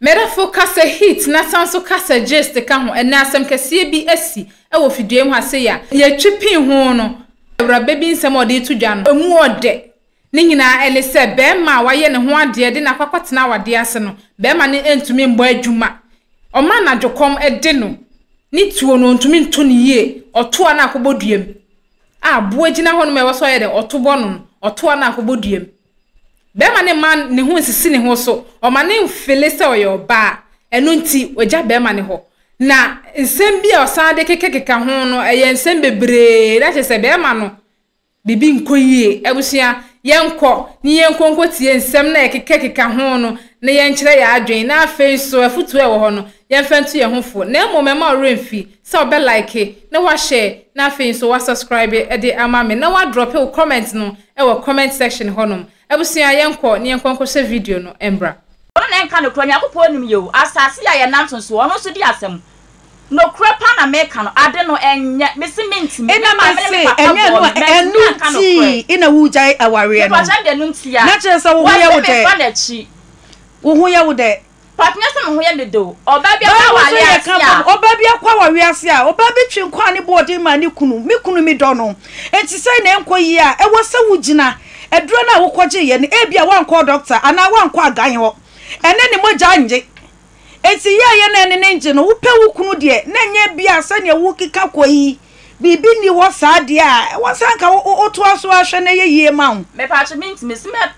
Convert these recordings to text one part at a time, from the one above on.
Mmerɛfo kasa hit na san nso kasa gist ka ho. Ɛnnɛ asɛm kɛseɛ bi asi wɔ fidua yi ho a sei a yɛtwe pin ho no, awuraba bi nsɛm a ɔde reto dwa no, ɛmu ɔdɛ. Ne nyinaa ɛne sɛ barima a wayɛ ne ho adeɛ de no akɔ akɔtena awadeɛ ase no, barima no ntumi mmɔ adwuma. Ɔma anadwokɔm de no. Ne tuo no, ɔntumi nto no yie. Ɔto a na akɔbɔ dua mu. A, boa gyina hɔnom a ɛwɔ sɛ ɔyɛ dɛn? Ɔto bɔ no no, ɔto a na akɔbɔ dua mu. Bɛrima no mma ne ho nsisi ne ho so. Ɔma no mfele sɛ ɔyɛ ɔbaa. Ɛno nti, wagya bɛrima no hɔ. Na nsɛm bi a ɔsan de kekakeka ho no, ɛyɛ nsɛm bebree. Na kyerɛ sɛ bɛrima no, biribi nkɔ yie. Abusua, yɛnkɔ na yɛnkɔ nkɔtie nsɛm no a yɛkekakeka ho no na yɛnkyerɛ yɛn adwene. Na afei nso, afotuo a ɛwɔ hɔ no, yɛmfa ntu yɛn ho fo. Na mmom, ɛmma wo werɛ mfi sɛ wobɛlaeke na woahyɛɛ na afei nso woasɔskraibe de ama me na woadrɔpe wo kɔmɛnt no wɔ comment section hɔ nom. Abusua yɛn kɔ na yɛn kɔ nkɔ hwɛ video no mbra. Ɔno na ɛnka nokorɛ Nyankopɔn nim yɛ o asase yi a yɛnanto soɔ ɔno nso di asɛm Nokorɛ paa na meka no ade no ɛnyɛ mese mentumi me maame ne me papa bɔɔ me mantumi anka nokorɛ mepakyɛ ɛnde ɛno ntia wɔse mefa n'akyi. Pɔtnɛ sɛ mo ho yɛ dodo. Ɔbaa bi akɔ aware ase a. Ɔbaa bi akɔ aware ase a. Ɔbaa bi twe nkwa a ne bo wɔ den maa ne kunu. Me kunu, me dɔ no. Enti sɛn na ɛnkɔ yie a ɛwɔ sɛ wogyina aduro no a wokɔgyeeɛ no. Ebia woankɔ dɔkta anaa woankɔ agan hɔ. Ɛnnɛ ne mogya nnye. Enti yɛɛyɛ na ɛne no ngye no. Wopɛ wo kunu deɛ na ɛnyɛ ebia sɛdeɛ worekeka kɔ yi. Biribi nni hɔ saa deɛ a ɛwɔ sɛ anka wotoa so ara hwɛ na ɛyɛ yie ma wo. Mepatwo mentumi. Sɛ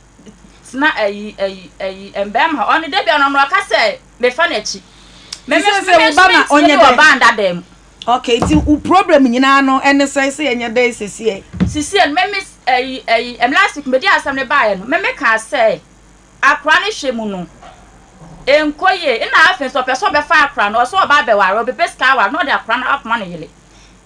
Sena ayi ayi ayi mbɛɛma hɔ ɔno dɛ bia no ɔno ɔka sɛ mefa n'akyi me me me me nso mentie ne wɔ band adan mu. ok nti wo problem nyinaa no ɛne sɛ sɛ yɛnyɛ dɛn sesiɛ. sesiɛ no me me ayi ayi ɛm last week medi asɛm no baayɛ no me me kaa sɛ akora no hwɛ mu no nkɔ yie nna afei nso ɔpɛ sɛ ɔbɛfa akora no ɔsɛ ɔba abɛware ɔbɛpɛ sika aware na ɔde akora no akɔma ne yere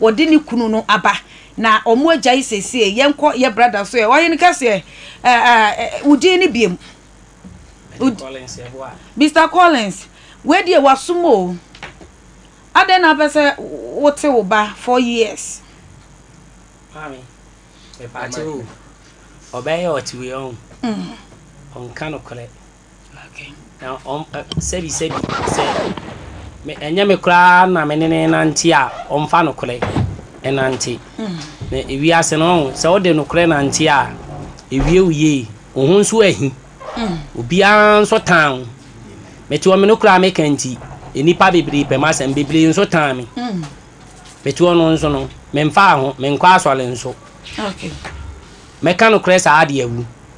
Ɔde ne kunu no aba na ɔmo agyae sesie yɛnkɔ yɛ brada so ɛ ɔhene kɛseɛ ɛ ɛ wo din ne biam Mister Collins wei deɛ wasom o adɛn na apɛ sɛ wote wo ba four years. Maame mepaakyɛw o ɔbɛyɛ ɔte wei ɔho ɔnka nokorɛ. Na ɔm ɛ, sɛbisɛbi sɛ me, ɛnyɛ me koraa na me ne no renante a, ɔmfa nokorɛ nnante. Na wiase no, ɔho, sɛ wode nokorɛ nante a, ɛwie wo yie. Wo ho nso ahi. Obiara nso tan wo. Mete hɔ, me no koraa meka nti, nnipa bebree pɛ m'asɛm, bebree nso tan me. Mete hɔ no nso no, memfaa ho, menkɔ asɔre nso. Mɛka nokorɛ saa de awu.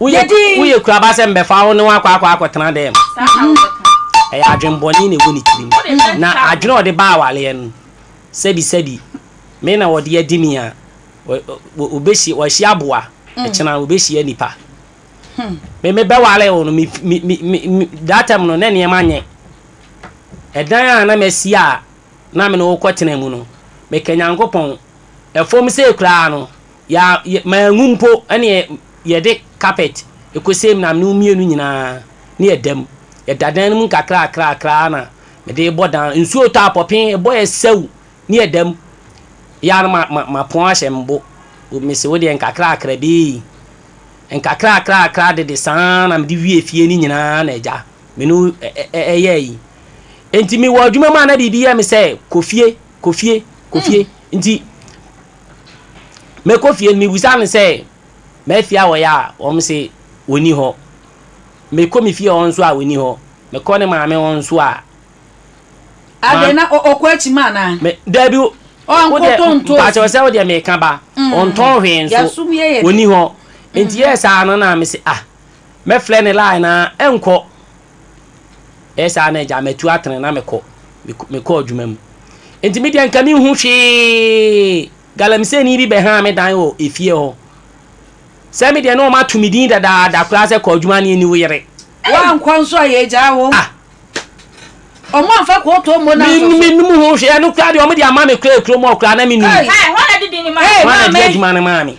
Woyɛ woyɛ kura ba sɛ mbɛfa wo ne wo akɔ akɔ akɔtena dɛm. Saa na wobɛka. Ɛyɛ adwen bɔne na ɛwɔ ne tirim. Wode bɛn Na saa adwene a ɔde ba awareɛ no, sɛbi sɛbi me na ɔde adi ni a, ɔ ɔ ɔbɛhyia wahyia aboa, ɛkyena ɔbɛhyia nipa. Me mebɛware wo no, me me me me me that time no na nneɛma nyɛ. Ɛdan a na masi a na me ne wo kɔtena mu no, meka Nyankopɔn, ɛfam sei koraa no, Yɛ a yɛ manwu mpo ne yɛ yɛde kapɛt kosee me maame no mu mmienu nyinaa ne yɛ da mu. Yɛda dan no mu nkakrakrakra ara na mede rebɔ dan no. Nsuo tɔ a, pɔpee ɛbɔ yɛ sɛw ne yɛ da mu. Yɛ ara na ma mapɔn ahyɛ me bo. Mese wo deɛ nkakrakra bi ei. Nkakrakrakra dede saa ara na mede wiee fie no nyinaa na agya me ne wo yɛ ayi. Nti mewɔ adwuma mu a na biribi yɛ me sɛ kɔ fie, kɔ fie, kɔ fie. Nti Mekɔ fie no, mebisa no sɛ, M'afie a wɔyɛ a, wɔse ɔnni hɔ. Mekɔ me fie hɔ nso a, ɔnni hɔ. Mekɔ ne maame hɔ nso a. Adɛn, na ɔkɔ akyima anaa? Me, Dabi, Ɔnkɔtɔ ntoosi. Mpakyɛ ɔsɛ wo deɛ meka ba. Ɔntɔn hwee nso, ɔnni hɔ. Nti yɛɛ saa no na mese, ah, mɛfrɛ ne line na ɛnkɔ. Ɛyɛ saa na agya matu atene na mekɔ mekɔ adwuma mu. Enti me deɛ nka menhu hwee. Galamseyni bi bɛhaa me dan wɔ efie hɔ. Sɛ me deɛ na wɔato me din dadaada koraa sɛ kɔ adwuma ne ani wo yere. Woankɔ nso a yɛagyaa wo. Ah! Wɔamfa kooto ammɔ no asɔ so. Me menim ho hwee. Ɛno koraa deɛ wɔde ama me koraa kurom hɔ koraa na menim. Ei! Hwan na ɛde din no maa me? Hwan na ɛde adwuma no maa me?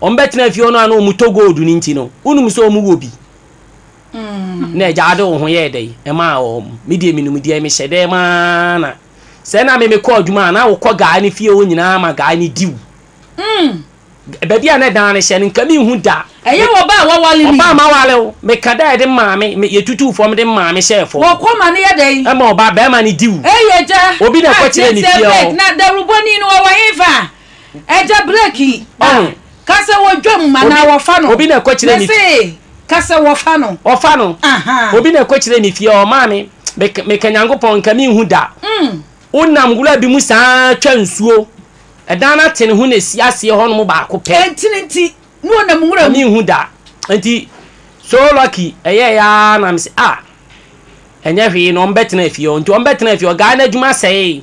Wɔn bɛ tena fie hɔ no a na wɔn tɔ gold no nti no wonum sɛ wɔn wɔ bi na agya ade wɔn ho yɛɛ dɛ ɛmaa wɔn me deɛ me num deɛ me hyɛ dɛ maa na sɛ na me me kɔ adwuma a na wo kɔ guy no fie hɔ nyinaa ma guy no diw baabi a na ɛdan no hyɛ no nka me nhu da ɛyɛ wɔ ba a wawale no yi ɔba ma wale wo me ka dɛ ɛde maa me me yɛ tutu fam de maa me hyɛ fam wɔ kɔ ma no yɛ dɛ yi ɛma ɔba bɛrima no diw ɛyɛ gya obi na ɛkɔ kyerɛ ne fie hɔ na dawurubɔni no wɔ wɔ he fa Agya break yi a ka sɛ wɔdwa mu ma na wɔfa no. Obi na ɛkɔ kyerɛ me. Mese ka sɛ wɔfa no. Wɔfa no. Obi na ɛkɔ kyerɛ me fie ɔmaa me meka Nyankopɔn nka menhu da. Wonam nwura bi mu saa twa nsuo. Ɛdan no atene ho na ɛsi aseɛ hɔ nom baako pɛ. Ɛntene nti na ɔnam nwura mu. Menhu da. Nti so lucky ɛyɛɛ yɛ ara na mese ah ɛnyɛ hwee na wɔbɛtena fie hɔ. Nti wɔbɛtena fie hɔ guy no adwuma sɛee.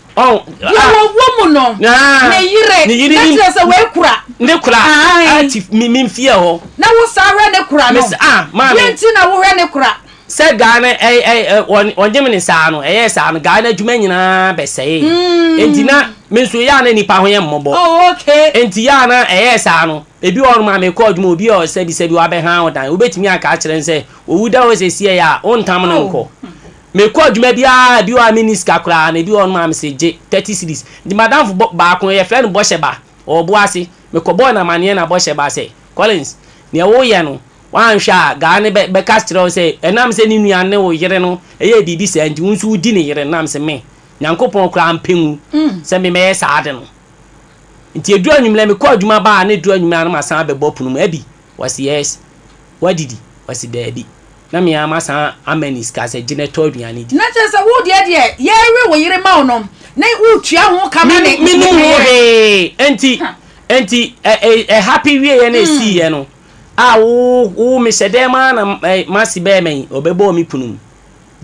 deɛ wɔwɔ mu no ne yere ne kyerɛ sɛ wɔakura ne kura ati memfie hɔ na wo saa hwɛ ne kura no deɛ nti na wohwɛ ne kura sɛ gaa no ɔnyem ne saa no ɛyɛ saa no gaa no adwuma nyinaa bɛsɛe enti na me nso yɛ a na nipa ho yɛ mmɔbɔ enti yɛ a na ɛyɛ saa no ebi wɔ hɔ ma mekɔ adwuma obi a ɔsɛbisɛbi wabɛha wo dan wobɛtumi aka akyerɛ no sɛ owu da hɔ sɛ siɛ yɛ a wontam no nkɔ Mekɔ adwuma biara a, ebi wɔ hɔ a minni sika koraa, na ebi wɔ hɔnom a mese gye thirty cedis. Nti m'adamfo bɔ baako, wɔfrɛ no Bɔhyɛ Ba, ɔwɔ Boase. Mekɔbɔɔ no amanneɛ na Bɔhyɛ Ba sɛ, Collins, nea woreyɛ no, woanhwɛ a, guy no bɛ, bɛka kyerɛ wo sɛ ɛnam sɛ ne nua ne wo yere no yɛɛ biribi saa nti, wo nso wudi ne yere no. Na mese, Me? Nyankopɔn koraa ampɛ ngu sɛ me mɛyɛ saa ade no. Nti eduu anwummere, mekɔɔ adwuma baa a, na eduru anwummere a na masan abɛbɔ pono mu. Abby. Wɔse, Yes. Woadidi? Ɔse, Daabi. Na me ara masan ama no sika sɛ, Gye na tɔ aduane di. Na kyerɛ sɛ wo deɛ deɛ yɛrewe wo yere ma wo no, na woretua ho ka ma ne. Mennim ho hwee. Enti, enti ɛ, ɛ, ɛhape wieeɛ na ɛsiiɛ no, a wo, wo, mehyɛ dɛm ara na, ɛ, m'ase bɛrema yi, ɔbɛbɔɔ me kunu mu.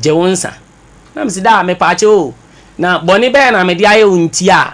Gye wo nsa. Na mese, Daa, mepaakyɛw o, na bɔne bɛn na mede ayɛ wo nti a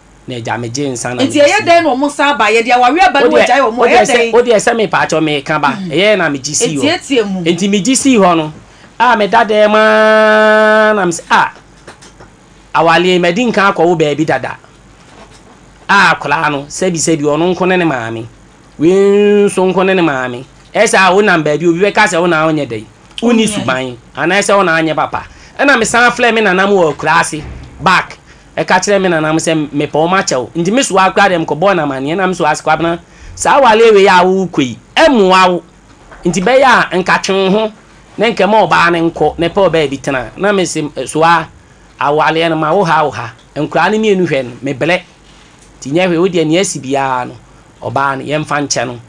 na agya megye nsa na Nti ɛyɛ dɛn na wɔn nsa aba? Yɛde awareɛ aba na wɔagyae wɔn a, ɛyɛ dɛn? Wo deɛ sɛ me paatwɔ meka ba, ɛyɛɛ na megye sii hɔ. Ntiatia mu. Nti megye sii hɔ no, a meda dɛm ara na me sɛ ah, awareɛ yi madi nka akɔwo baabi dada. A akwadaa no, sɛbi sɛbi ɔno nko ne ne maame, wei nso nko ne ne maame. Ɛyɛ sɛ a wonam baabi obi bɛka sɛ wo na wonyɛ dɛn, wonni suban anaasɛ wo na anyɛ papa. Ɛna mesan frɛɛ me nana mu wɔ akuraase back, Eka kyerɛɛ me nananom sɛ mepɛ wɔn akyɛ wo, nti me soa wo koraa deɛ mekɔbɔɔ no amanneɛ na me soa wo ase, Kwabena, saa awareɛ wei a wo rekɔ yi, ɛmmoa wo, nti bɛyɛ a nka twe wo ho na nka ma ɔbaa no nkɔ na pɛ ɔbaa bi tena, na me se soa awareɛ no ma wo ha wo ha, nkoraa no mmienu hwɛ no, mebrɛ, nti nyɛ hwee, wo deɛ nea asi biara no, ɔbaa no, yɛmfa nkyɛ no.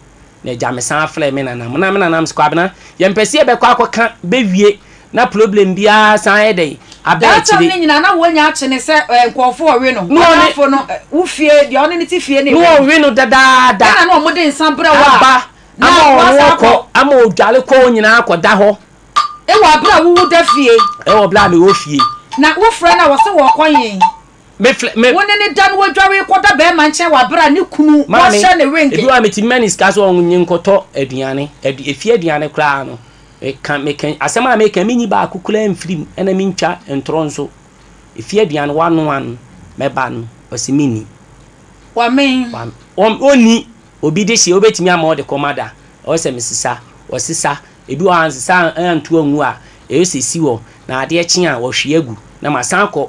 Na egya me san frɛ me nana mo na me nana mo se kwabena yɛn pɛ se yɛ bɛ kɔ akɔ ka bɛ wie na ploblem biaa san ayɛ dɛn aba akyire. That time no nyinaa na wɔnya akye ne sɛ eh nkurɔfo ɔwe no no adamfo no eh wo fie deɛ ɔne ne te fie na ewe no. No ɔwe no dadaada. Ɛna na wɔde nsa brɛ wo a aba na ama ɔno wasan ɔkɔ akɔ. ama odware kɔ wɔn nyinaa akɔ da hɔ. Ewɔ abere a wo wo da fie. Ewɔ bere a me wɔ fie. Na wo frɛ no a wɔse wɔɔkɔ yen. Mefrɛ me. Wo ne no da na wadware rekɔda barima nkyɛn wɔ bere a ne kunu wahyɛ no ringe. Maame, ebi wɔ hɔ a mitumi ma no sika sɛ ɔnye nkɔtɔ aduane, adu efie aduane koraa no, meka meka asɛm a meka yi minyi baako koraa mfiri mu na mintwa ntorɔ nso. Efie aduane wanoa no mɛba no, ɔse minni. Wamee. Wame. Onni. Obi dehyeɛ wobetumi ama ɔde kɔma da, ɔyɛ sɛ mesesa, ɔsesa. Ebi wɔ hɔ a ansesa antu angu a, ɛyɛ sɛ esi hɔ na adeɛ kye a, wahwie agu na masan akɔ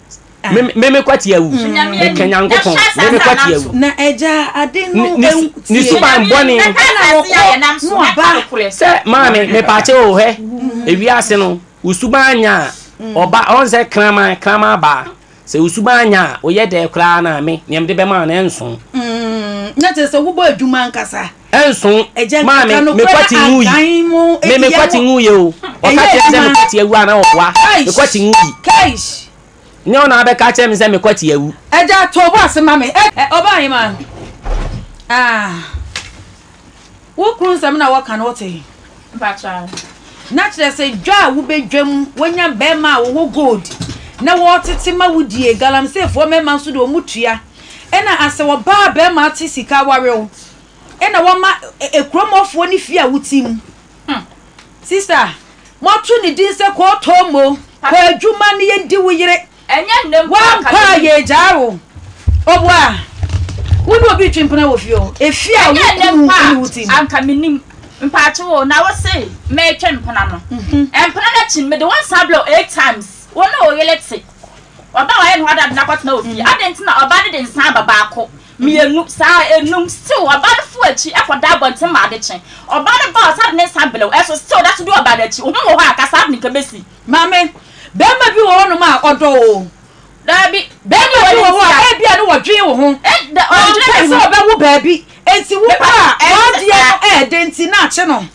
meme kwati awu meka nyankopɔn meme kwati awu na agya ade no ne suban bɔne sɛ maame mepakye o hɛ ewiase no wo suban anya a ɔba ɔn sɛ kraman kraman baa sɛ wo suban anya a woyɛ dɛ koraa na me nea mede bɛma no ɛnso na kyerɛ sɛ wobɔ adwuma ankasa Ɛnso, maa me, me kwati ngu yi. Me, me kwati ngu yi o. Ɔka kyerɛ sɛ me kwati awu a na ɔboa. Me kwati ngu yi. Nyɛ ɔna abɛka akyerɛ me sɛ me kwati awu. Ɛgya to bo ase ma me. Ɔbaa hema. Ah. Wo kunu nsɛm na wɔka no wote. Mpakyɛ. Na kyerɛ sɛ dwa a wobɛdwam, wonya bɛrima a wɔwɔ gold na wɔtete ma wo die, galamseyfoɔ mmarima nso de wɔn tua. Nna asɛ ɔbaa bɛrima tse sika warew na wɔma ekurom hɔfoɔ ne fie a wotse mu. Hmm. Sista, moato ne din sɛ kɔɔtɔɔ mo, kɔ adwuma na yɛndi wo yere. Ɛnyɛ nnɛ mpo akademi. Woampɛ a yɛregyaa wo. Ɔboa, wo ne obi retwe mpena wɔ fie o, efie a wo kunu ne wo te mu. Ɛnyɛ nnɛ mpo a anka mennim. Mpaakyew o, na wose meretwe mpena no. Mpena no akyi no, mede wo nsa abrɛ wo eight times, wo ne wo yere te. Ɔbaa a wayɛ ne ho adad no akɔtena wɔ fie. Adɛn nti na ɔbaa no de nsã aba baako, mmienu, saa a, enum? Still, ɔbaa no foro akyi kɔda abɔnten ma ade kye. Ɔbaa no ba a, ɔsan de ne nsã blew, ɛso still ɔda so di ɔbaa no akyi. Wo ho wɔ hɔ a, ka saa de no nka ebesi. Maame, barima bi wɔ hɔnom a ɔdɔ wo? Dabi. Barima bi wɔ hɔ a ebia na ɔdwen wo ho. Ɔmpɛ sɛ ɔbɛwo baabi, enti wo ba a w'adeɛ no ɛyɛ den nti na akye no.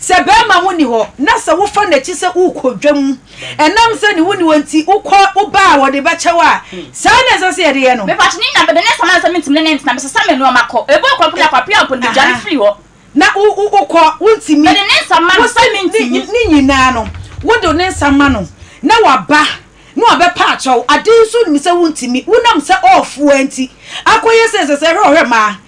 Sɛ barima ho nni hɔ na sɛ wofa n'akyi sɛ worekɔ dwa mu, ɛnam sɛ ne ho nni hɔ nti wokɔ woba a wɔde bɛkyɛ wo a, saa ara na ɛsɛ sɛ yɛde yɛ no. Mepatwo ne nya bɛdɛ ne nsɛm a ɛnsɛ mentumi ne no ntena, mesesa me nnoɔma kɔ, ɛbu a ɔkɔpene akɔ apia mpo no medwane firi hɔ. Na wo wo wokɔ wontumi. Mede ne nsa ma no sɛ mentumi. Ne nyinaa no wode ne nsa ma no na waba na wabɛpa akyɛw, ade nso wonim sɛ wontumi, wonam sɛ ɔɔfoa nti akɔyɛ sɛ ɛsɛ sɛ hwɛ ɔhwɛ mmaa.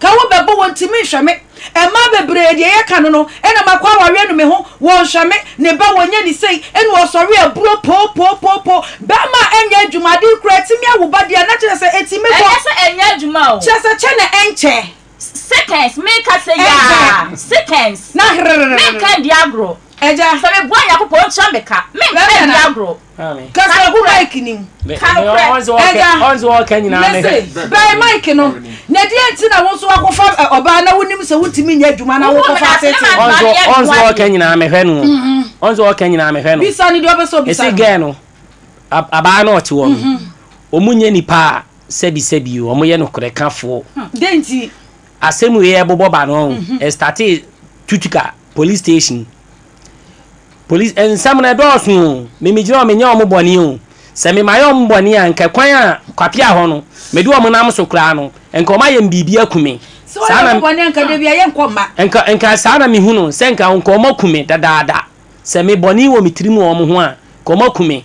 Ka wo bɛbɔ wɔ ntimi nhwɛ me Ɛmaa bebree deɛ yɛ ka no no Ɛna makɔ awareɛ no me ho wɔ nhwɛ me Ne ba wɔ nyɛ ne sei Ɛna ɔsɔre aburo poo poo poo poo Bɛɛma a ɛnyɛ adwuma Adee kura atimi awo ba deɛ na kyerɛ sɛ ɛtimi bɔ Ɛnyɛ sɛ ɛnyɛ adwuma o. Kyerɛ sɛ kyɛ na ɛnkyɛ. Seconds me ka sɛ yaa Ɛnkyɛ. Seconds Na herererere. Me nka ndi agorɔ Agya. Sɛ me boa Nyankopɔn ɔntua me ka Me nka ndi agorɔ. Maame. Kasa gu mic ni mu. Ka nokorɛ. Ɔnzi wɔkɛ ɔnzi wɔkɛ nyinaa ne. Mese bɛn mic no na deɛ nti na wo nso wakɔfa ɔbaa na wonim sɛ wontumi nyɛ adwuma na wokɔfa atete. Ɔnzi ɔnzi wɔkɛ nyinaa mehwɛ no. Ɔnzi wɔkɛ nyinaa mehwɛ no. Bisa no deɛ ɔbɛ sɛ ɔbisa no. Esi gɛɛ no abaa no ɔte hɔ no ɔmu nyɛ nipa a sɛbi sɛbi o ɔmu yɛ nokorɛ ka foɔ. Dɛn nti. Asɛm wei a ɛbobɔ ba no, ɛstartee Tutuka police station. Police, nsɛm no ɛdɔɔso o, me megyina hɔ menyɛ wɔn bɔne o. Sɛ me mayɛ wɔn bɔne a, nka kwan a kwapea hɔ no, mede wɔn nam so koraa no, nka wɔn ayɛ me biribi aku me. Sɛ wɔyɛ wɔn bɔne a, nka da biara yɛnkɔ mma. Nka, nka saa na mehu no, sɛ nka nka wɔaku me dadaada. Sɛ me bɔne wɔ me tirim wɔ wɔn ho a, nka wɔaku me.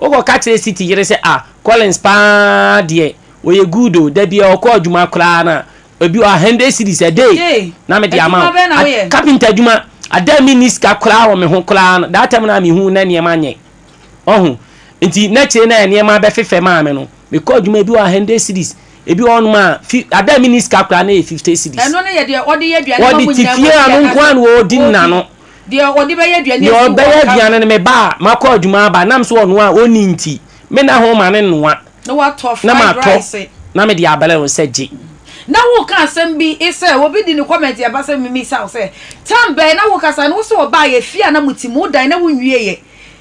Wokɔka kyerɛ City yere sɛ ah Collins paa deɛ ɔyɛ good o, da biara ɔkɔ adwuma koraa no a, ebi wɔ ha hundred cedis a day na mede ama wo. Carpenter adwuma, ada a menni sika koraa wɔ me ho koraa no, that time no a mehu wo na nneɛma nyɛ. Wahu? Nti na akyire no a nneɛma abɛfefɛ maa me no, mekɔ adwuma, ebi wɔ ha hundred cedis, ebi wɔ hɔnom a fi, ada a menni sika koraa no yɛ fifty cedis. Wɔde te fie a, ɔno nko ara na ɔdi n'ano, Deɛ ɔde bɛyɛ aduane Deɛ afi ɔbɛyɛ waka aduane no, me ba a makɔ adwuma aba nam sɛ ɔnoa a ɔnni nti, me nna ho ma no noa na watɔ na fried matɔ rice. na mede abrɛ no sɛ gye. Na woreka asɛm bi sɛ obi de ne comment ɛba sɛ memmisa wo sɛ, time bɛn na wokasa no? Wose wɔbaeɛ, fie a na mote mu, wodae na wonwieeɛ.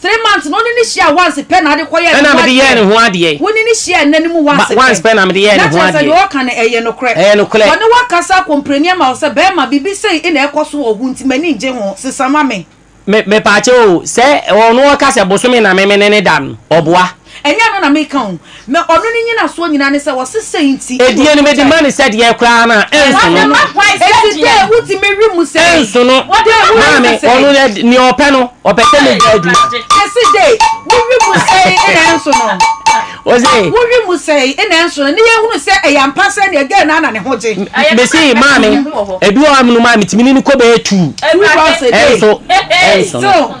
Three months no wone no hyia once pɛ na ade kɔ yɛ ne ho adeɛ. Ɛna mede yɛɛ ne ho adeɛ. Wone no hyia nna no mu once pɛ. Once pɛ na mede yɛɛ ne ho adeɛ. Na kyerɛ sɛ deɛ ɔka no ɛyɛ nokorɛ. Ɛyɛ nokorɛ. Wɔne wo akasa akompreni ama wo sɛ bɛɛma biribi sei ɛna ɛkɔ so wɔ ho nti m'ani ngye ho, sesa ma me. Me, mepaakyɛw o, sɛ ɔno ɔka sɛ bosome na me mene no da no, ɔboa. Ɛnyɛ ɛno na meka o. Na ɔno ne nyinasoɔ nyinaa ne sɛ wɔse sei nti ɛna Ɛdeɛ no mede ma ɔkutae. no sɛ deɛ koraa no a ɛnso Wode no. ma hwan sɛ Enti deɛ? dɛn wotumi we mu sɛi? Ɛnso no. Wode ma hwan Maame, sɛ ɔno sɛi? deɛ nea ɔpɛ no, ɔpɛ sɛ medi adwuma. Mese dɛn? Wowe mu sɛi ɛna ɛnso no? Ɔse. Wowe mu sɛi ɛna ɛnso no? Ne yɛnhunu sɛ ɛyɛ ampa sɛ ɛneɛ dɛn na na ne ho gye? Mese maame, ɛbi wɔ hɔ a menom a metumi ne no kɔ bɛyɛ two. Two rounds a day. Ɛnso, ɛnso no. So.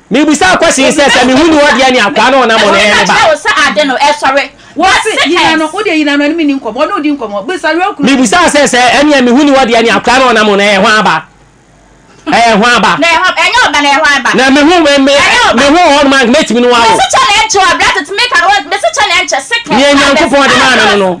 Mibisaa Kwasii sɛ, sɛ mehu ne hɔ deɛ nea akoa no ɔnam no ɛyɛ ne ba? Wɔse yina no, wodeɛ yina no ɛne me nni nkɔmmɔ, ɔne wo di nkɔmmɔ, bisa Real Kunu. Mibisaa sɛ, sɛ ɛneɛ mehu ne hɔ deɛ nea akoa no ɔnam no ɛyɛ hwan ba? Ɛyɛ hwan ba? Na mehu, me, me, mehu wɔ hɔnom a nka mɛtumi ne wo awo. Nea Nyankopɔn de maa me no no.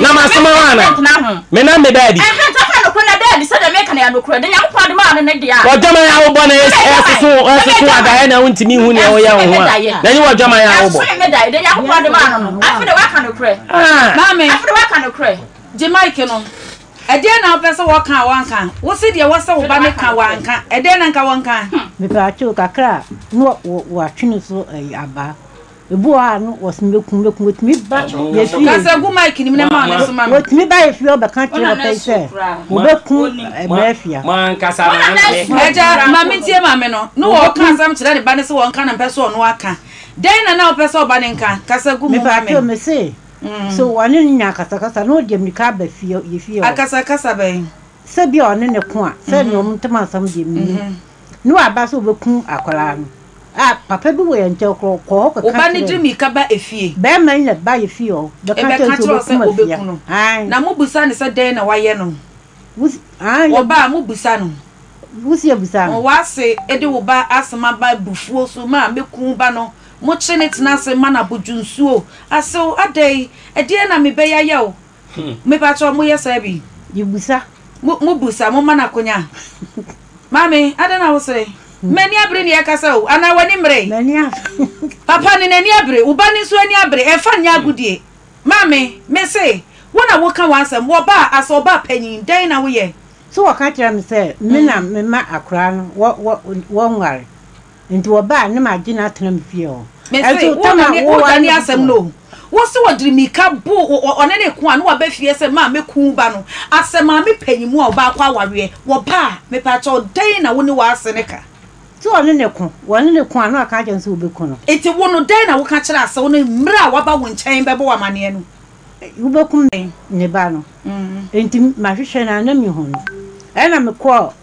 na masoma hɔ ana menam me daadi wɔdwaman a wobɔ na ɛsoso ɛsoso adaeɛ na wontumi hu nea woyɛ wo ho a na ɛnyɛ wɔdwaman a wobɔ gye mike no ɛdeɛ na wopɛ sɛ wɔka a wɔnka wo se deɛ wɔ sɛ wo ba ne ka wɔanka ɛdeɛ na nka wɔnka mepɛ akyɛw kakra a na wɔatwene so abaa Ebu hɔ a no wɔsem bɛkum bɛkum wɔtumi ba yɛfie wɔtumi ba yɛfie ɔbɛka kyerɛ papa yi sɛ wɔbɛkum mafia. Agya maame tie maame no na wɔka asɛm kyerɛ ne ba no sɛ wɔnka no mpɛ sɛ ɔno aka dɛn na na wopɛ sɛ ɔba no nka kasa gu mu ma me. Me se sɛ wɔne no nya akasakasa na ɔde mirika aba fie yɛfie hɔ. Akasakasa bɛn? Sɛ bi a ɔne ne ko a sɛ nea wɔn ntam asɛm deɛ menim. Ne waba sɛ obekum akwadaa no a papa bi wɔ yɛn nkyɛn koro kɔ hɔ kɔ ka kyerɛ. Ɔba no gye mirika ba efie. Bɛɛma yi na ɛba yɛ fie hɔ bɛka kyerɛ sɛ obekum afia. Ae. Na mo busa no sɛ dɛn na wayɛ no. Wusi, ae. Wɔba a mo busa no. Wusi yɛ busa no. Wɔn ase de wo ba asɛm aba abufuo so ma meku wo ba no mo kye ne tena ase ma no abodwo nsuo asew adɛn ɛdeɛn na mebɛyɛ ayɛ wo. Mepakyɛw, moyɛ saa bi? Yebusa. Mo, mobusa, momma no akonya. Maame, adɛn na wosere? M'ani abere nea ɛrekasa o, anaa w'ani mmere? M'ani abere. Papa no, n'ani abere. Wo ba no nso ani abere. Ɛmfa nyɛ agodie. Maame, mese, wo na woka w'asɛm. Wɔbaa, asɛ ɔbaa panyin, dɛn na woyɛ? So wɔka kyerɛɛ me sɛ me na mema akoraa no, wɔ, wɔ, wɔnware? Nti wɔbaa ne ma gye n'atena mu fie hɔ. Mese wo na ne wo da ne asɛm no o. Wo se wɔde mirika bo ɔne ne ko a ne waba fie sɛ maa mɛku wo ba no. Asɛ maame panyin mu a ɔbaa kɔ awareɛ. Wɔba a, mepakyɛw dɛn na wo ne w'ase no ka? Se ɔne ne ko, wɔne ne ko a ne waka akyerɛ no sɛ wobɛku no. Nti wo no dɛn na woka kyerɛ asɛ wo ne mmerɛ a waba wo nkyɛn bɛbɔ wo amaneɛ no? Wobɛkum me ne ba no. Nti mahwehwɛ no a na menhu no. Ɛna mekɔɔ.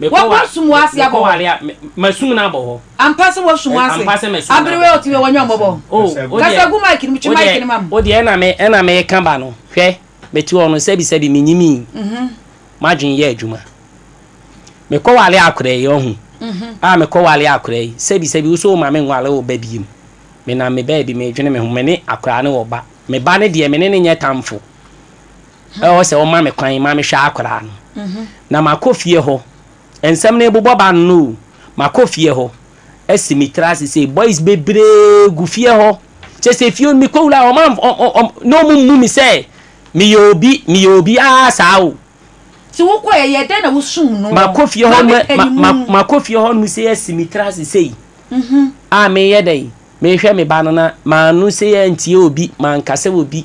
Mekɔ wa, Wɔasum wo ase abɔ mekɔ hɔ. ware a, me, masum no abɔ hɔ. Ampa sɛ wɔasum wo Ɛ, ase. ampa sɛ masum no Aberewa abɔ a hɔ. ɔte wei, wanya mmɔbɔ. O, Kasa gu. wo deɛ, Kasa gu mic no mu, twe wo deɛ, mic no ma m. wo deɛ ɛna me, ɛna mereka ba no, hwɛ, mete hɔ no, sɛbi sɛbi, menyimii. M'adwene yɛ adwuma. Mekɔ ware akora yi, ɔhu, a, mekɔ ware akora yi, sɛbi sɛbi, wo so woma me nware wo ba biem. Menam me baabi, medwene me ho, me ne akora ne ɔba. Me ba no deɛ, me ne no nyɛ tamfo. Ɛwɔ sɛ wɔma me kwan ma mehwɛ akwadaa no, na makɔ fie hɔ. Nsɛm no rebobɔ ba no no o, makɔ fie hɔ asi me tiri ase sei. Boys bebree gu fie hɔ, kyerɛ sɛ fie hɔ no mekɔwura a, wɔamfa wɔn wɔn wɔn na wɔmmu me sɛ meyɛ obi, meyɛ obi ara saa o. Nti wokɔeɛ, ɛyɛɛ dɛn na wosum no wɔn? Makɔ fie hɔ nom ma me ma ma makɔ fie hɔ nom sei asi me tiri ase sei a mereyɛ dɛn, merehwɛ me ba no na manno sei antie obi, mankasa obi.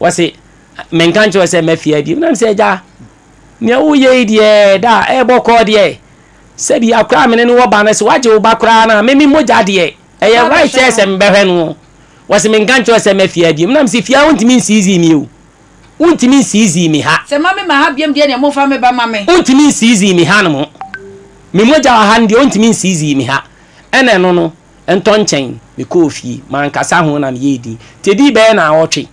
Wɔse, Menka nkyerɛ wo sɛ mma fie ha bio? Nam sɛ, Agya, nea woreyɛ yi deɛ, da a ɛrebɔ kɔɔ deɛ, sɛbia koraa me ne no wɔ ba no, sɛ woagye wo ba koraa no a, me me mogya deɛ, ɛyɛ right sɛ sɛ mebɛhwɛ no o. Wɔse, Menka nkyerɛ wo sɛ mma fie ha bio? Nam se, Fie ha wontumi nsiizii me o. Wontumi nsiizii me ha. Sɛ mma me mma ha biom deɛ neɛ momfa me ba ma me. Wontumi nsiizii me hanom. Me mogya wɔ ha no deɛ wontumi nsiizii me ha. Ɛna ɛno no. Ɛntɔ nkyɛn, mekɔɔ fie. Mankasa ho na meyɛɛ dinn. Nti ɛdii bɛyɛ nnawɔtwe,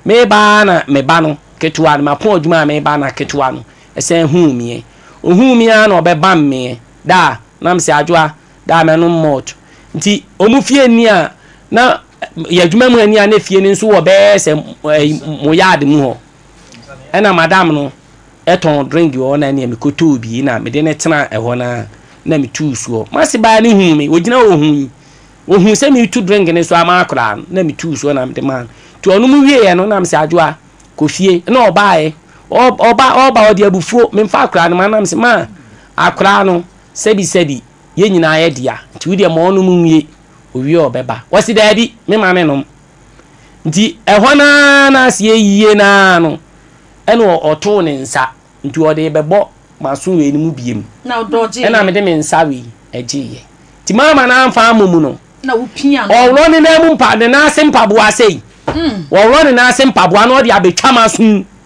mereba ara na me ba no ketewa no, mapɔn adwuma a mereba na ketewa no san huu meɛ. Ɔhuu me ara na ɔbɛbam meɛ, Daa, na mese, Adwoa, daa mɛnom malt. Nti wɔn fie nni a na yɛ adwuma mu nni a na fie no nso wɔ bɛyɛ sɛ mo yard mu hɔ. Ɛna madam no tɔn drink wɔ hɔ na ɛnneɛ mekɔtɔɔ bi na mede no tenaa ɛhɔ no ara na metuu soɔ. M'ase baa no huu me, ɔgyina hɔ ɔhuu yi. Ɔhuu sɛ meretu drink no so ama akwadaa no na metuu soɔ na mede maa no. Nti ɔnom wieeɛ no na mese Adwoa, kɔ fie. Ɛnna ɔbaeɛ, ɔ, ɔba, ɔba, ɔde abufuo, memfa akwadaa no mma no na mese, Ma akwadaa no, sɛbisɛbi, yɛn nyinaa yɛ dea, nti wodeɛ ma ɔnom nwie, ɔwie a ɔbɛba. Ɔse, Daabi, mema no nnom. Nti ɛhɔ no ara no aseɛ yie no ara no, ɛna ɔtoo ne nsa, nti ɔde rebɛbɔ m'aso wei no mu biom, ɛna mede me nsa wei gyeeɛ. Nti mamma no amfa ammɔ mu no, ɔworɔ ne nan mu mpa, ne nan ase mpaboa sei, ɔworɔ ne nan ase mpaboa na ɔde abɛtwa m'aso mu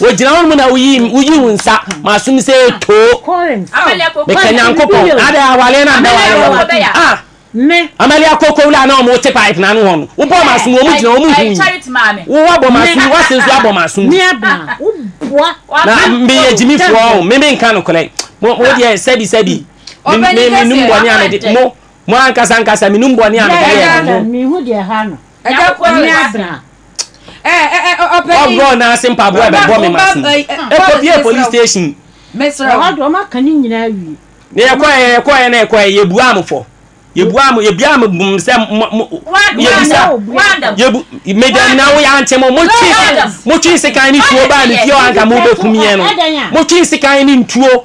Wogyina hɔ nom na woyi wo nsa m'asom sɛ too meka Nyankopɔn adɛ awale na mbɛ wale wɔ ah Amalia koko wula na ɔmo te pipe na ano hɔ no wobɔ m'asom ɔmo gyina ɔmo hu yi wo wabɔ m'asom wase nso abɔ m'asom na meyɛ gyimifoɔ o me menka nokorɛ mo deɛ sɛbi sɛbi menum bɔne a mede mo mo ankasa ankasa menum bɔne a mede yɛ mo ɛgya kɔ ne abena ɔbɔ n'ase mpaboa a ɛbɛbɔ me ma se ɛkɔbie police station ɛhɔ de ɔmaka ne nyinaa awie na yɛkɔɛ yɛkɔɛ na yɛkɔɛ yɛbuaa mo fɔ yɛbuaa mo yɛbuaa mo bom sɛ yɛbisa yɛbu medam na wo yɛante mo motwe motwe sekan ne tuo baa ne fie anka mobɛkum yɛn no motwe sekan ne ntuo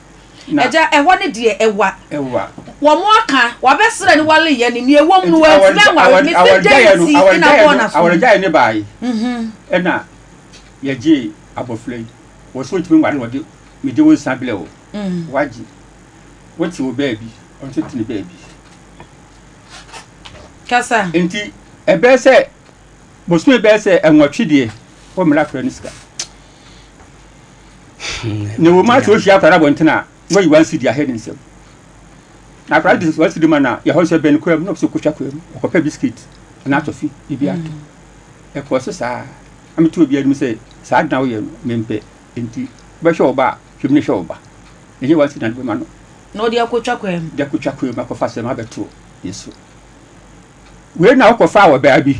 Na. Agya, ɛhɔ ne deɛ ɛwa. Ɛwa. Wɔaka, wɔabɛsrɛ ne wɔaleyɛ ne, nea ɛwom no, wɔantumi anware me, me dɛn nti na wɔbɔɔ no asom? Awɔregyaeɛ no baae, ɛna yɛgyee abɔfra yi, wɔ sɛ ɔntumi nware na wɔde me de wo nsa blɛ wo, woagye, wote wo baabi, ɔno nso te ne baabi. Kasa. Nti ɛbɛyɛ sɛ bosome bɛyɛ sɛ nwɔtwe deɛ, wɔmmrɛ akwadaa no sika. na wɔn ase wɔhyia akwadaa abɔnten a na wɔyi wɔn asi di ahɛ ne nsam na akwadaa de wɔn asi di ma na yɛhɔ sɛ bɛn kura mu na ɔsɛ kotwa kura mu ɔkɔpɛ bisikit anaa tɔfi ebi ato ɛkɔɔ so saa ɛmi to obi anim sɛ saa adan woyɛ no mempɛ nti bɛhwɛ ɔba a twɛm ne hwɛ ɔba ɛnyɛ wɔn asi dan bɛma no na ɔde akotwa kura mu de akotwa kura mu akɔfa sɛm abɛto yɛ so wei na ɔkɔfa wɔ baa bi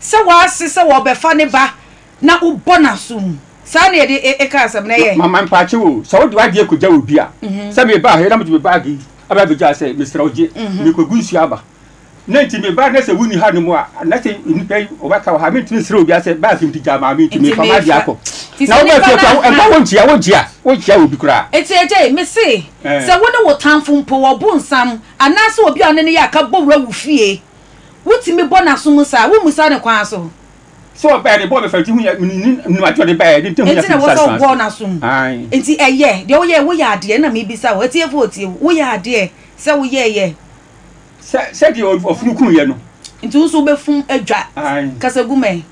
Sɛ w'ase sɛ wɔbɛfa ne ba na wobɔ n'asom. Saa na yɛde e, eka asɛm no, ɛyɛ. Mama mpaakyɛw o, sɛ wode w'adeɛ kɔgya obi a, sɛ mebaa ha yi na mede me baage yi aba abɛgya ha sɛ, mesrɛ wo gye, merekɔgu nsuo aba, na nti mebaa na sɛ wonni hanom a, na sɛ nnipa yi wɔbɛka wɔ ha a, merentumi nsrɛ obiara sɛ baage nti gyaa maame nti merefa m'adeɛ akɔ. Na wobaa fie koraa, wo, ɛmfa wonkyia, wonkyia, wonkyia obi koraa. Enti agya yi, mese, sɛ wo ne wo tamfo mpo wɔ bonsam, anaasɛ obi a ɔne no yɛ aka bɔ wura wo fie, Wotumi bɔ n'aso mu saa a, wommisa no kwan so. Sɛ ɔbɛn no, bɔ bɛfa nti ho hia, nim ade ɔde baeɛ, ne ntam ho hia Enti na ɛwɔ sɛ wobɔ n'aso mu. Enti ɛyɛ, deɛ woyɛɛ, woyɛ adeɛ, ɛna mebisa wo, atiefo a wɔtie wo, woyɛ adeɛ sɛ woyɛeɛ. Sɛ, sɛdeɛ ɔfunu kunuiɛ no. Enti wo nso wobɛfum adwa. Kasa gu me.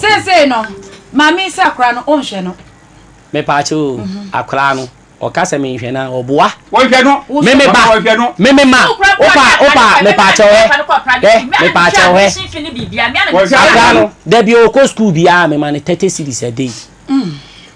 Seesei no, ma mensi akora no, wonhwɛ no. Mepaakyɛw o, akora no, ɔka sɛ menhwɛ no a, ɔboa. Wonhwɛ no, me me ba, me me ma, opa a, opa a, mepaakyɛw hɛ, hɛ, mepaakyɛw hɛ. Akora no, da bi a ɔkɔ sukuu biara, mema no thirty cedis a day.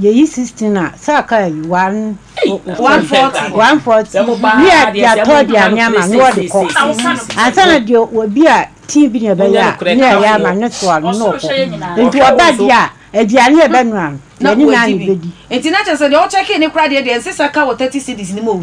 Yɛyi sixteen a saa kaa yi one one forty ne yɛ de atɔ de ame ama ne wɔde kɔ ansa na deɛ obi a tii bi na ɛbɛyɛ a ne yɛ yɛ ama ne soa no na ɔkɔ nti ɔba deɛ a aduane a ɛbɛnoa no yɛne naa na ɛbɛdi. Nti na kyerɛ sɛ deɛ ɔkyɛkee ne kora deɛ deɛ ɛnsɛ sɛ ɛka wɔ thirty cedis no mu o.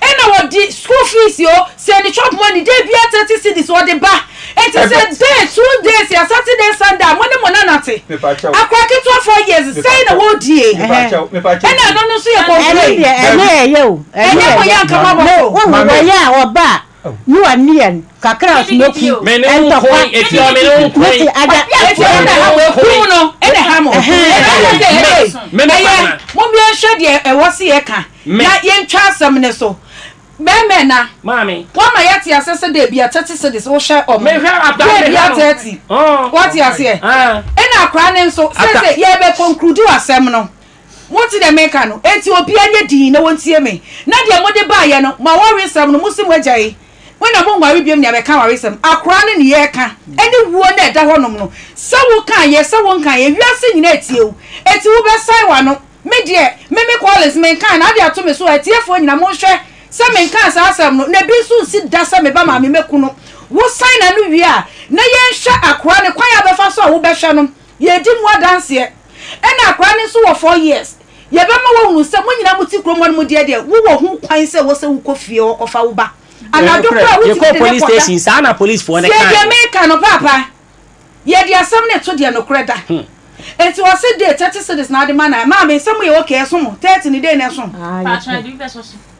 Ɛna wɔde school fees o, sɛ ne chop money da biara thirty cedis wɔde ba. Enti sɛ Ɛbɛ- day, two days, yɛ Saturday, Sunday a, mo ne mo nana te. Mepakyɛw. Akora ketewa four years, sɛn na Mepakyɛw. wɔredi ei? Mepakyɛw, mepakyɛw. Ɛna ɛno no nso yɛ Ɛno complain. deɛ ɛno ɛyɛ o. Ɛno Ɛnyɛ yɛ mo yɛ yɛ. anka mo abɔ No, so. wohu Maame. wɔyɛ a wɔba a You are near kakra smoky ntɔkwa mete ada ɛhɛn no ɛna ha mo ɛyɛ mo mmea nhwɛ deɛ ɛwɔ se yɛ ka na yɛntwa asɛm ne so bɛmɛ na wɔma yɛte ase sɛ dɛ bia tɛte sɛ de sɛ wohwɛ ɔmo dɛ bia tɛte wɔte aseɛ ɛna akora ne nso sɛ sɛ yɛbɛ conclude asɛm no Mote deɛ mereka no? Enti obiara nyɛ dinn na wɔntie me, na deɛ mode baeɛ no, mo awaresɛm no, mose moagyae. Mo na monnware biom ne abɛka awaresɛm, akoraa ne nea ɛka, ne wuo na ɛda hɔnom no. Sɛ wokaeɛ, sɛ wonkaeɛ, wiase nyinaa atie wo, enti wobɛsɛe w'ano. Me deɛ, me, me Collins, menkae, na ade ato me so a, atiefoɔ nyinaa, monhwɛ sɛ menkaa saa asɛm no, na ebi nso nsi da sɛ meba maame mɛku no. Wosan n'ano wie a, na yɛnhwɛ akoraa no kwan a ɔbɛfa so a wobɛhwɛ no. Yɛredi mo adanseɛ. Ɛna akwadaa no nso wɔ four years. Yɛbɛma woahunu sɛ mo nyinaa mote kurom hɔnom deɛ deɛ, wowɔ ho kwan sɛ ɛwɔ sɛ wokɔ fie hɔ kɔfa wo ba. Anadwo koraa a, wotumi de no kɔda. Tie deɛ mereka no, paapa. Yɛde asɛm no reto deɛ nokorɛ da. Enti wɔse date, thirty cedis na wɔde ma no a, maame, sɛ moyɛ okay a, ɛso mo? Thirty no, dɛn na ɛso? Paa, kyerɛ deɛ wopɛ sɛ ɔso.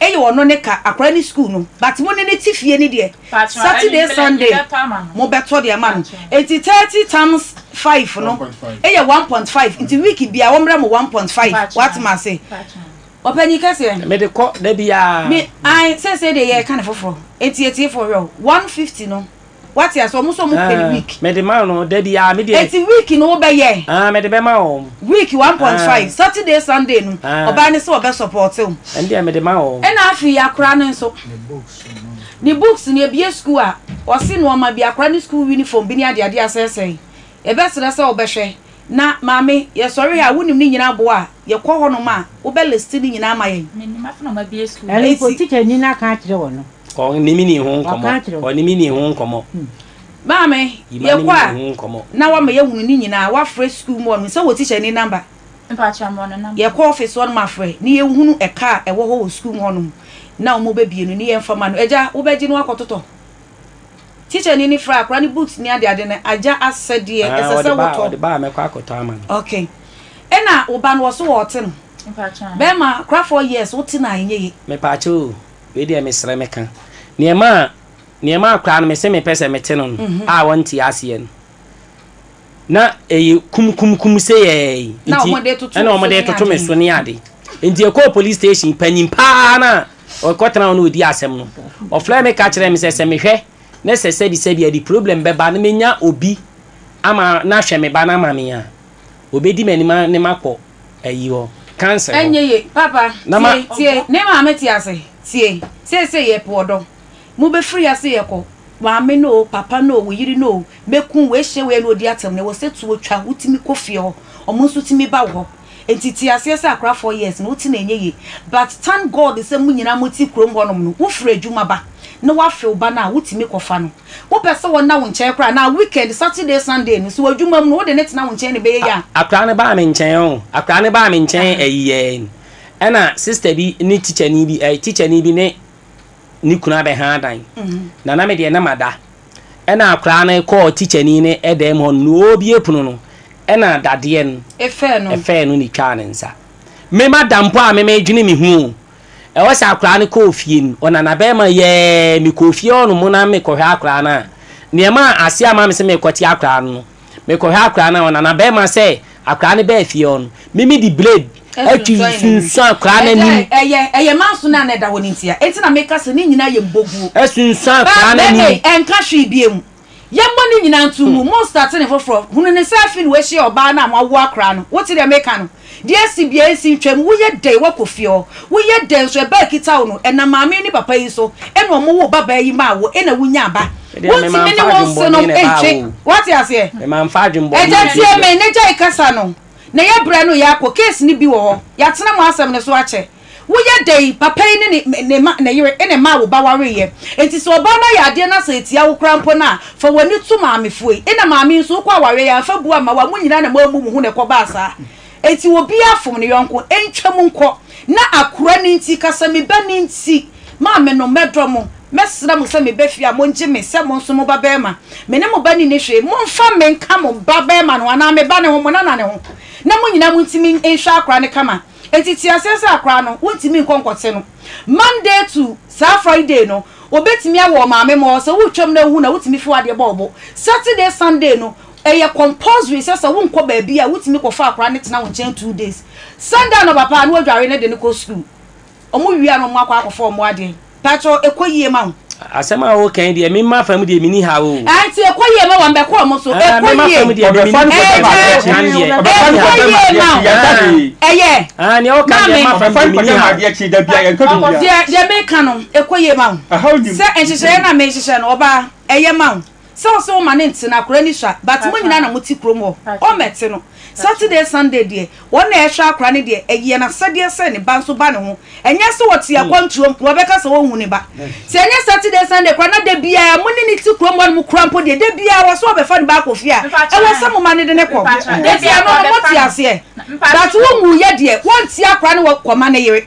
Eye ɔno ne ka akwadaa ne sukuu no but mo ne no te fie no deɛ Saturday Sunday mo bɛtɔ de ama no nti thirty times five no yɛ one point five nti week biara wɔn mrɛ mo one point five wate mo ase ɔpanyin kɛseɛ. Mede kɔ da biara. Me ae seesei deɛ yɛreka no foforɔ nti atiefoɔ hwɛ o one fifty no. wate ase ɔmo sɛ ɔmo pɛ no week. mede ma no da biara me deɛ. eti week no wobɛyɛ. ah mede bɛma wɔn. week one point five saturday sunday no ɔbaa no sɛ ɔbɛ support wo. ɛn deɛ mede ma wɔn. ɛna afei akora no nso ne books no ebie school a ɔse nnoɔma bi akora no school uniform bi ne adeade asɛesɛe Yɛbɛsrɛ sɛ wobɛhwɛ na Maame, Yɛsɔre Ha a wonim ne nyinaa boa a, yɛkɔ hɔnom a, wobɛ list ne nyinaa ama yɛn. Ɛno mpo, tikyanyi no aka akyerɛ wo no. Ɔne me nii ho nkɔmmɔ. Ɔne me nii ho nkɔmmɔ. Maame, Yɛkɔ a, na wama yɛahunu ne nyinaa. Wafrɛ sukuu mu hɔnom. Sɛ wɔ tikyanyi namba. Yɛkɔ ɔfese hɔnom afrɛ, ne yɛhunu ɛka a ɛwɔ hɔ wɔ sukuu mu hɔnom, na wɔbɛbie no, ne yɛmfa ma no. Agya, wobɛgye no akɔtotɔ? Tikyani no fira akwadaa no boots ne adeade no, agya asɛdeɛ, ɛsɛ sɛ wotɔ. Ɔde ba a, mɛkɔ akɔtɔ ama no. Ok. Ɛna wo ba no, wɔ so wɔɔte no. Bɛɛma, kora four years, wote no a, ɛnyɛ ye. Mepaakyɛw o, wei deɛ mesrɛ meka. Neɛ ɛmaa, neɛ ɛmaa koraa no mese mepɛ sɛ mete no no a wɔnte aseɛ no, Na ɛyɛ kum kum kum se yɛɛ yi. Nti ɛna wɔn de toto me so ne ade. Nti ɛkɔɔ police station panyin paa na ɔkɔtena hɔ na ɔdi asɛm no. Ɔfrɛ me ka kyerɛ me sɛ sɛ mehwɛ na sɛ sɛbi sɛbi a de problem bɛba na menya obi ama no ahwɛ me ba no ama me a, ɔbɛdi m'anim ne makɔ ayi hɔ, council hɔ. Ɛnyɛ yie. Papa, tie, tie. Ne maame te ase. Tie. Seesei yɛpo ɔdɔ. Mobɛfiri ase rekɔ, Maame no o, papa no o, wo yere no o, mɛku wei, hyɛ wei a na ɔdi atɛm no, ɛwɔ sɛ tuo twa, wotumi kɔ fie hɔ, wɔn nso tumi ba wo hɔ. Nti te aseɛ sɛ akora four years no wote no ɛnyɛ yie. But thank God sɛ mo nyinaa mote kurom hɔnom no, wofiri adwuma ba na woafe wo ba no a, wotumi kɔfa no. Wopɛ sɛ ɔnna wo nkyɛn koraa anaa? Weekend, Saturday, Sunday no, sɛ ɔwɔ adwuma mu no, wode no tena wo nkyɛn na ɛbɛyɛ yie a. Akwadaa no baa me nkyɛn o, akwadaa no baa me nkyɛn ɛyi yɛn, ɛna sister bi ne tikyani bi, ɛɛ tikyani bi ne ne kunu abɛha adan. Na na me deɛ na mada. Ɛna akwadaa no kɔɔ tikyani no dan mu hɔ no, na ɔrebue pono no, ɛna dadeɛ no fɛɛ no na ɛtwaa ne nsa. Me mada mpo a me medwene me ho o. Ɛwɔ sɛ akwadaa no kɔɔ fie no, ɔnanabarima yɛɛ, mekɔɔ fie hɔnom na mekɔhwɛ akwadaa no a, deɛ ɛmaa aseɛ ama me sɛ merekɔte akwadaa no no, Mekɔhwɛ akwadaa no a, ɔna n'abarimaa sɛ akwadaa no baa fie hɔ no, Mimi de blade atwi sunsuan akwadaa no anim. Ɛyɛ ɛyɛ manso no a na ɛda hɔ no ntia. Enti na meka sɛ ne nyinaa yɛ mboguo. Asunsuan akwadaa no anim. Bɛɛbɛɛ yi, ɛnka hwee biom. Yɛmmɔ ne nyinaa nto mu. Monstate ne foforɔ. Hunu ne sɛ afei na wahyia ɔbaa no a moawo akwadaa no. Wote deɛ meka no? Dear si bia nsi ntwam woyɛ dɛn wakɔ fie hɔ woyɛ dɛn nso ɛba ɛkita wo no ɛnam maame yi ne papa yi so ɛna ɔmo woo ba baa yi maa wo ɛna wo nyaa ba wontumi ne wo nse nom ntwe wate aseɛ ɛgya tie me na gyae kasa no na yɛ brɛ no yɛ akɔ case no bi wɔ hɔ yatena mo asɛm no so akyɛ Woyɛ dɛn? Papa yi ne ne ma, ne yere, ne mma a wo ba wareeɛ. Enti sɛ ɔbaa no ayɛ adeɛ na sɛ ɛtia wo koraa mpo no a, fa w'ani to maamefoɔ yi. Ɛna maame yi nso, wokɔ awareɛ yi a, mfa bu amma wo a, mo nyinaa na moabu mo ho na ɛkɔbaa saa. Enti obiara fom ne yɔnko. Ɛntwam nkɔ. Na akora no nti, ka sɛ, Me ba no nti, maamenom, mɛdɔ mo. Mɛsrɛ mo sɛ meba fie a, mongye me sɛ mo nso mo babarima. Me ne mo ba no nni hwee. Momfa me nka mo babarima no ho anaa me ba no ho, mo nana no ho, na mo nyinaa montumi nhwɛ akora no kama. Enti te aseɛ sɛ akora no wontumi nkɔ nkɔte no Monday to saa Friday no wobɛtumi awɔ ɔmaame mɔɔ sɛ woretwam na wohu na wotumi fi wadeɛ bɔ wobo Saturday Sunday no ɛyɛ compulsory sɛ sɛ wonkɔ baabi a wotumi kɔ fa akora no tena wo nkyɛn two days Sunday anɔpa paa na wadware no de no kɔ school wɔn wie a na wɔn akɔ akɔfa wɔn adeɛ. Pacho ɛkɔ yie ma wo. Asɛm a woka yi deɛ me ma fam deɛ meni haw o. Ae nti ɛkɔ yie ma wɔn bɛkɔ wɔn so ɛkɔ yie. Me ma fam deɛ meni haw ɛkɔ yie ma wo ɛyɛ. Ae nea woka deɛ me ma fam deɛ meni haw. Deɛ deɛ meka no ɛkɔ yie ma wo sɛ nhyehyɛeɛ no a mehyehyɛ no ɔbaa ɛyɛ ma wo. Sɛ ɔse wo ma no nte no akora ni sua but mo nyinaa na mo te kurom hɔ ɔma ɛte no Saturday Sunday deɛ wɔn na ɛhwɛ akora no deɛ ɛyɛ nasɛdeɛ sɛ ne ba nso ba ne ho ɛnyɛ sɛ ɔte akwantuom na ɔbɛka sɛ ɔnhu ne ba sɛ ɛnyɛ Saturday Sunday kora na da biara mo ne no te kurom hɔ nom kora mpo deɛ da biara wɔ sɛ ɔbɛfa ne ba akɔ fie a ɛwɔ sɛ mo ma no de no kɔ nti ɛno no mo te aseɛ but wo nwuiɛ deɛ wɔnte akora no wɔ kɔma ne yere.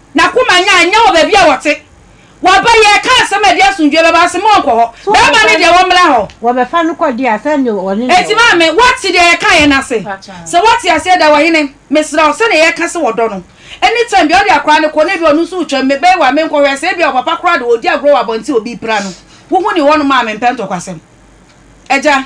N'akoma nyɛ a, nyɛ wɔ baabi a wɔte. Waba yi, ɛka asɛm a ɛde asomdwoeɛ bɛba, ɔse ma ɔnkɔ hɔ. So Bɛrima no wɔbɛfa deɛ no, wɔmmra hɔ. wɔbɛfa no kɔ deɛ a, sɛdeɛ ɔne deɛ Enti wɔka. maame, woate deɛ yɛkaeɛ no ase? Sɛ woate aseɛ de a, ɔhene, mesrɛ wo, sɛdeɛ yɛka sɛ wɔdɔ no, anytime biara wode akwadaa no kɔ na ebia ɔno nso retwam, mebɛyɛ wo a, menkɔ hwɛ? Sɛ ebia wɔ papa koraa de, ɔredi agorɔ wɔ abɔnten a obi repira no, wohu ne hɔnom a, mempɛ ntɔkwasɛm. Agya.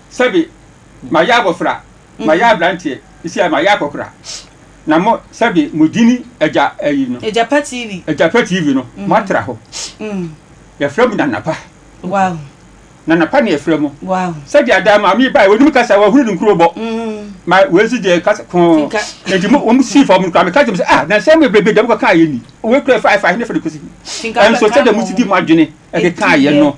Sɛbe mayɛ abɔfra, mayɛ abranteɛ, sisi a mayɛ akɔkora, na mo, sɛbe mo gyini agya ayi no. Agyapa TV. Agyapa TV no, mo atra hɔ. Yɛfrɛ mo Nanapa. Wow. Nanapa na yɛfrɛ mo. Wow. Sɛde adaa maame bae, wɔnim kasa, wɔahunu ne nkuro bɔ. Ma wei nso deɛ kasa kɔɔ. Nti mo, wɔn sii fam no koraa, meka kyerɛ mo sɛ, ah, na nsɛm bebree bi deɛ mokɔka ayɛ ni. Wei kura ɛfa ɛfa he ne fa de kɔsi he. Ɛnso sɛdeɛ mo si di mo adwene ɛkeka ayɛ no.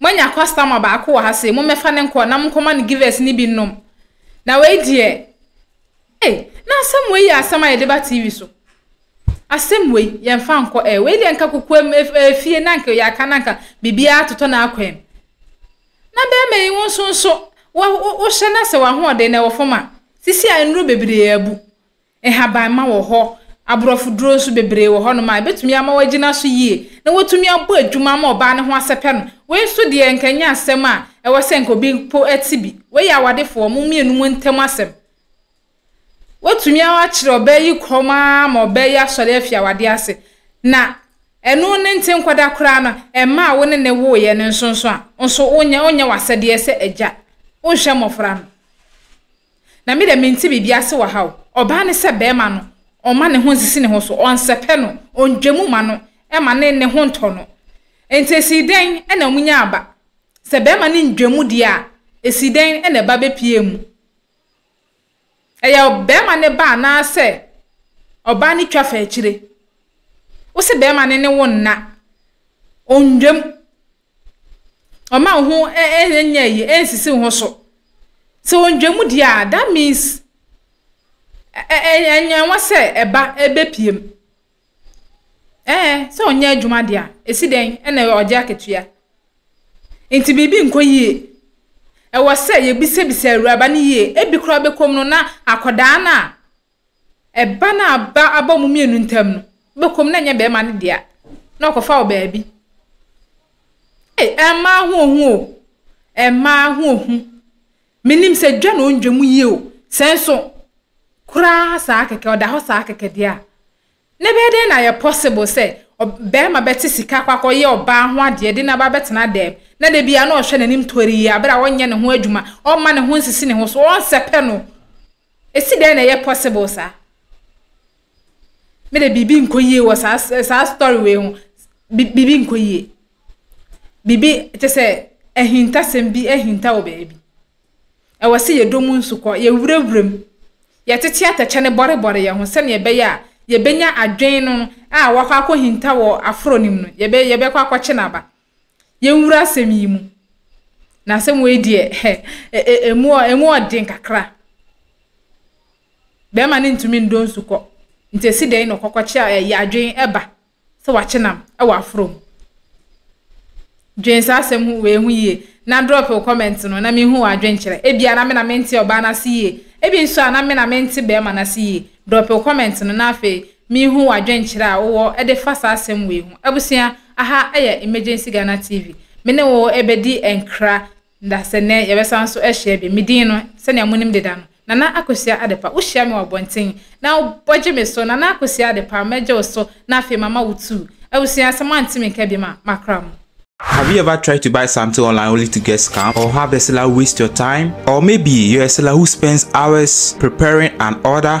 Moanya kɔstɔma baako wɔ ha sei, mommɛfa no nkɔ na monkɔma no Givers no bi nnom. Na wei deɛ, ei, na asɛm wei yɛ asɛm a yɛde ba TV so. Asɛm wei, yɛmfa nkɔ ɛ. Wei deɛ anka kokoam efie na anka yɛaka na anka biribiara atotɔ no akɔ ɛ. Na bɛrima yi wo nso nso, wo, wo, wohyɛ no asɛ w'ahoɔden na ɛwɔ fam a, sisi a nnuro bebree abu. Nhabamma wɔ hɔ, aborɔfoduro nso bebree wɔ hɔnom a ɛbɛtumi ama wɔagyina so yie na wɔatumi abɔ adwuma ama ɔbaa no ho asɛpɛ no. Wei nso deɛ nka ɛnyɛ asɛm a ɛwɔ sɛ nka obi mpo te bi. Wei yɛ awadefoɔ mo mmienu mo ntam asɛm. Woatumi akyere ɔbaa yi kɔm ara ma ɔbaa yi asɔre afi awadeɛ ase. Na ɛno ne nte nkɔda koraa no, ɛmma a wo ne ne woeɛ no nso nso a, nso wonyɛ w'asɛdeɛ sɛ agya. Wonhwɛ mmɔfra no. Na me dɛ menntse biribi ase wɔ ha o. Ɔbaa no sɛ bɛrima no, ɔmma ne ho nnsisi ne ho so, ɔnnsɛpɛ no, onndwa mu mma no, mma ne ne ho nntɔ no. Ntsi esii dɛn na wonyaa ba? Sɛ bɛrima no nndwa mu deɛ a, esii dɛn na ba bepuee mu? Ɛyɛ bɛrima no ba anaasɛ ɔbaa no twa fa akyire? Wose bɛrima no ne wo nna, onndwa mu, Ɔmma wo ho nyɛ ayi, ɛnsisi wo ho so. Sɛ ɔndwa mu deɛ a, that means ɛnyɛnwa sɛ ɛba ɛbɛpue mu. Ɛɛ, sɛ ɔnyɛ adwuma deɛ a, ɛsi dɛn na ɔgye akatua? Nti biribi nkɔ yie. Ɛwɔ sɛ yɛbisabisa awuraba no yie. Ɛbi koraa bɛkɔ mu no na akwadaa no a Ɛba no a ba abɔ mo mmienu ntam no, wobɛkɔ mu na ɛnyɛ barima no dea na ɔkɔfa wo baabi. Ei, mmaa ho ohu o, mmaa ho ohu. Menim sɛ dwa na ɔndwa mu yie o, sɛ nso koraa saa kɛkɛ, ɔda hɔ saa kɛkɛ deɛ a, Na ɛbɛyɛ dɛn na ayɛ possible sɛ ɔbarima bɛte sika akɔ akɔyɛ ɔbaa ho adeɛ de no aba abɛtena dɛm, na da biara na ɔhwɛ n'anim torii bere a ɔnyɛ ne ho adwuma, ɔmma ne ho nsisi ne ho so, ɔnsɛpɛ no? Esi dɛn na ɛyɛ possible saa? Mede biribi nkɔ yie wɔ saa saa story wei ho. Biribi nkɔ yie. Biribi te sɛ ahintasɛm bi ahinta wɔ baabi. Ɛwɔ sɛ yɛdɔ mu nsu kɔ, yɛwurawura mu, yɛtete atɛkyɛ no bɔrebɔre yɛn ho sɛnea ɛbɛyɛ a yɛbɛnya adwene no a wakɔ akɔhinta wɔ aforɔ no mu no, yɛbɛ, yɛbɛkɔ akɔkye no aba. Yɛnwura asɛm yi mu. Na asɛm wei deɛ, hɛ, e, e, emu, emu ɔden kakra. Bɛrima no ntumi ndɔ nsu kɔ. Nti ɛsi dɛn na ɔkɔkɔkye a ɛyɛ adwene ɛba? sɛ wakye nam wɔ aforo mu. Dwen saa asɛm ho wei ho yie. Na drop wo comment no na menhu w'adwenkyerɛ. Ebia na me na mente ɔbaa no ase yie. Ebi nso a na me na mente barima no ase yie. Drop wo comment no na afei menhu w'adwenkyerɛ a wowɔ de fa saa asɛm wei ho. Abusua, aha yɛ Emergency Ghana TV. Me ne wo bɛdi nkra Nda sɛ nnɛ, yɛbɛsan so ahyia bio. Me din no, sɛnea munim deda no, Nana Akosua Adepa. Wohyia me wɔ abɔnten, na wobɔgye me so, Nana Akosua Adepa, mɛgye wo so, na afei mama wo tuu. Abusua asɛm a ntimi nka bi ma makra mu. Have you ever tried to buy something online only to get scammed or have the seller waste your time? Or maybe you're a seller who spends hours preparing an order?